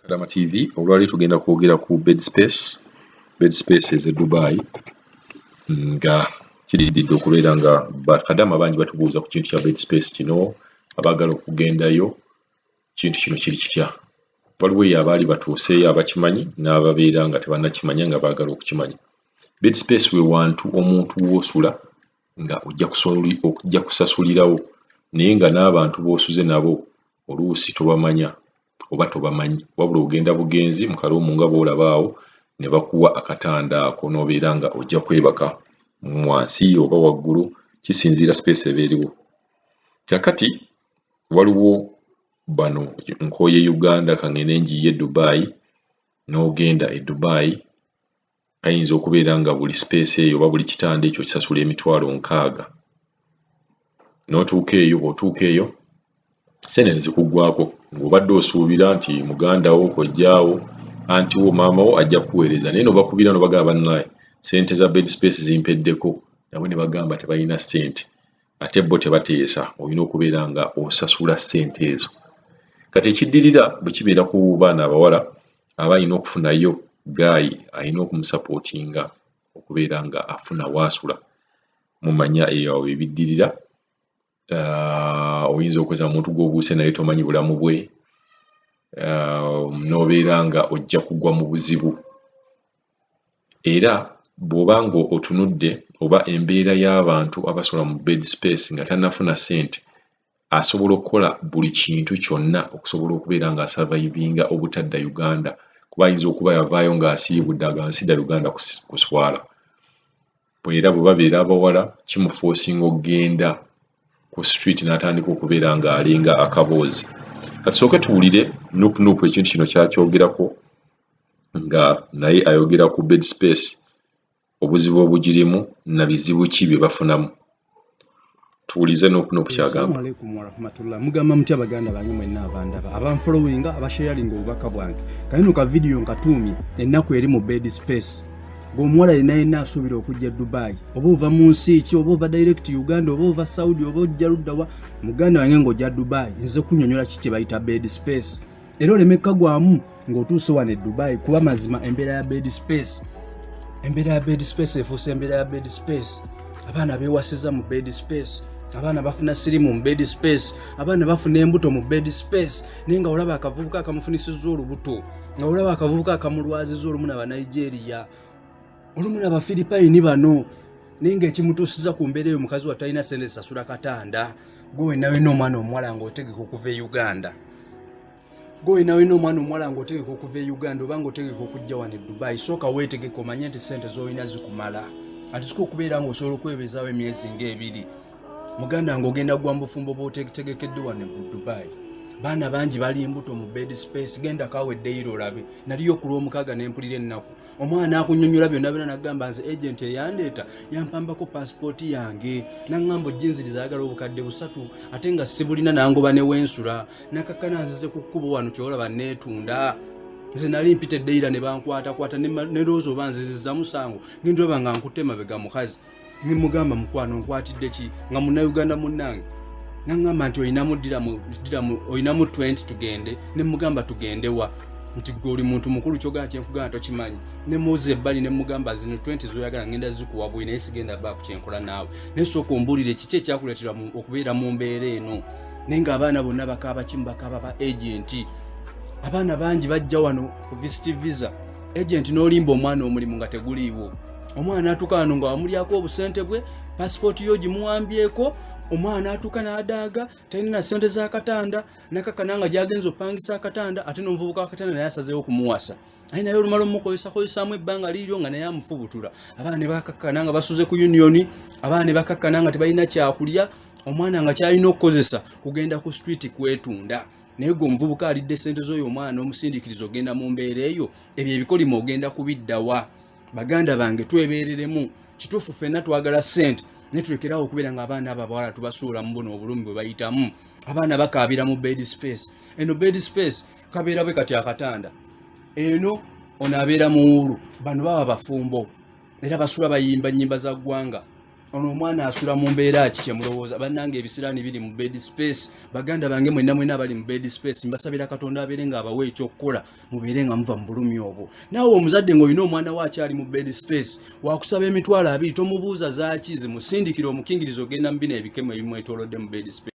Kadama TV olwaleero tugenda kwogera ku bed space bed space eze Dubai nga kirididde okubeera nga bakadama bangi batubuuza ku kintu kya bed space kino abaagala okugendayo kintu kino kiri kitya waliwo eyo abaali batuuseeyo abakimanyi n'ababeera nga tebannakimanya nga baagala okukimanya bed space we wantu omuntu w'osula nga ojja kusasulirawo naye nga n'abantu b'osuze nabo oluusi tobamanya oba tobamanyi wabula ogenda bugenzi mu kaloomu nga bw'olaba awo ne bakuwa akatanda ako n'obeera nga ojja kwebaka wansi oba waggulu kisinziira sipeesi eba eriwo. Kaakati waliwo bano nkooye Uganda ka ng'ende njiiye Dubai n'ogenda e Dubai ayinza okubeera nga buli space eyo oba buli kitanda ekyo kisasula emitwalo nkaaga notuuka eyo bwotuuka eyo sente nezikugwako ng'obadde osuubira nti muganda wo kojjaawo anti wo maama wo ajja kuweereza naye nobakubira nobagamba bannaye sente za bed space zimpeddeko nabo ne bagamba tebalina sente ate bo tebateesa olina okubeera nga osasula sente ezo kati ekiddirira bwe kibeera ku baana abawala aba alina okufunayo gaayi alina okumusapootinga okubeera nga afuna waasula mumanya eyo awo ebiddirira ah, oyinza okweza omuntu gwobuuse naye tomanyi bulamu bwe ah, nobeera nga ojja kugwa mu buzibu era bwoba nga otunudde oba embeera y'abantu abasula mu bed space nga tanafuna sente asobola okukola buli kintu kyonna okusobola okubeera nga asavayivinga obutadda Uganda kuba ayinza okuba yavaayo ng'asiibudde aga nsida Uganda kuswala era bwe babeera abawala kimufoosinga okugenda ku street n'atandika okubeera ng'alinga akaboozi katusooke tuwulire nupunupu ekintu kino kyakyogerako nga naye ayogera ku bed space obuzibu obugirimu na bizibu ki bye bafunamu tuwulize n'okuna okukyagamba mugamba mutya baganda bange mwenna abandaba abanfolowinga abasharinga obubaka bwange kayino ka vidiyo nkatuumi ennaku eri mu bed space ngaomuwala yena yena asuubira okujja dubai oba ova mu nsi ki oba ova direct uganda oba ova saudi oba ojja luddawa muganda wange ngaoja dubai nze kunyonyola ki kyebayita bed space era oleme kukagwamu ng'otuuse wano e dubai kuba mazima embeera ya bed space embeera ya bed space efuuse embeera ya bed space abaana bewasiza mu bed space abaana bafuna sirimu mu bed space abaana bafuna embuto mu bed space naye nga olaba akavubuka akamufunisiza olubuto nga olaba akavubuka akamulwaziza olumu na banigeria olumu na bafiripayini bano naye ngaekimutuusiza ku mbeera eyo mukazi watalina sente sasula katanda gwewenawena omwana omuwala nga otegeka okuva e uganda gwewenawena omwana omuwala nga otegeka okuva e uganda oba nga otegeka okujja wano e dubai sooka weetegeka omanye nti sente zolina zikumala atisika okubeera nga osobola okwebezawo emyezi ngaebiri muganda nga ogenda gwa mubufumbo bwotegekedde wano e dubai baana bangi bali embuto mu bed space genda kawe eddeiro olabe naliyo okulwomukaaga nempulira ennaku omwana akunyonyola byonna byona nagamba nze agenti eyandeeta yampambako pasipooti yange naŋamba ojinziriza ayagala obukadde busatu ate nga sibulina nangoba newensula nakakana nzize ku kkubo wano kyolaba neetunda nze nali mpita eddeira ne bankwatakwata ne loozi oba nziziza musango ngendolaba nga nkutte mabega mukazi ne mugamba mukwano nkwatidde ki nga munnayuganda munnange naŋŋamba nti olinamu ddiramu olinamu 20 tugende ne mugamba tugende wa nti gwe oli muntu mukulu kyogana kyenkugana tokimanyi ne muzi ebbali ne mugamba zino 20 zoyagala ngenda zikuwa buli naye sigenda baa ku kyenkola naawe naye sooka ombuulire kiki ekyakuleetera okubeera mu mbeera eno naye nga abaana bonna bakaaba kimu bakaaba ba agenti abaana bangi bajja wano ku visiti visa agenti n'olimba omwana omulimu nga teguliiwo omwana atuka wano nga wamulyako obusente bwe pasipooti yo gimuwambyeko omwana atuka n'adaaga talina na sente z'akatanda nakakana nga gyagenza opangisa akatanda ate nomuvubuka wakatanda naye asazeewo okumuwasa aye naye olumala omukozesakozesamu ebbanga liiryo nga naye amufubutura abaana ne bakakkana nga basuze ku uniyoni abaana ne bakakkana nga tebalina kyakulya omwana nga kyalina okukozesa kugenda ku street kwetunda naye gwe omuvubuka alidde sente z'oyo omwana omusindikiriza ogenda mu mbeera eyo ebyo ebikolimo ogenda kubiddawa baganda bange twebereremu kituufu fenna twagala sente naye tulekerawo okubeera nga abaana abo abawala tubasuula mu buno obulumi bwe bayitamu abaana bakaabira mu bed space eno bed space kabeera bwe kati akatanda eno ono abeera muwuulu bano baba bafumbo era basula bayimba nyimba za ggwanga ono omwana asula mu mbeera ki kyemulowooza bannanga ebisiraani biri mu bed space baganda bange mwenna mwenna abali mu bed space mbasabira katonda abeere nga abawa ekyokukola mubeere nga muva mu bulumi obwo naawe omuzadde ng'olina omwana we akyali mu bed space wakusaba emitwalo abiri tomubuuza zaaki zimusindikira omukingirizo ogenda mu bino ebikemo ebimwetolodde mu bed space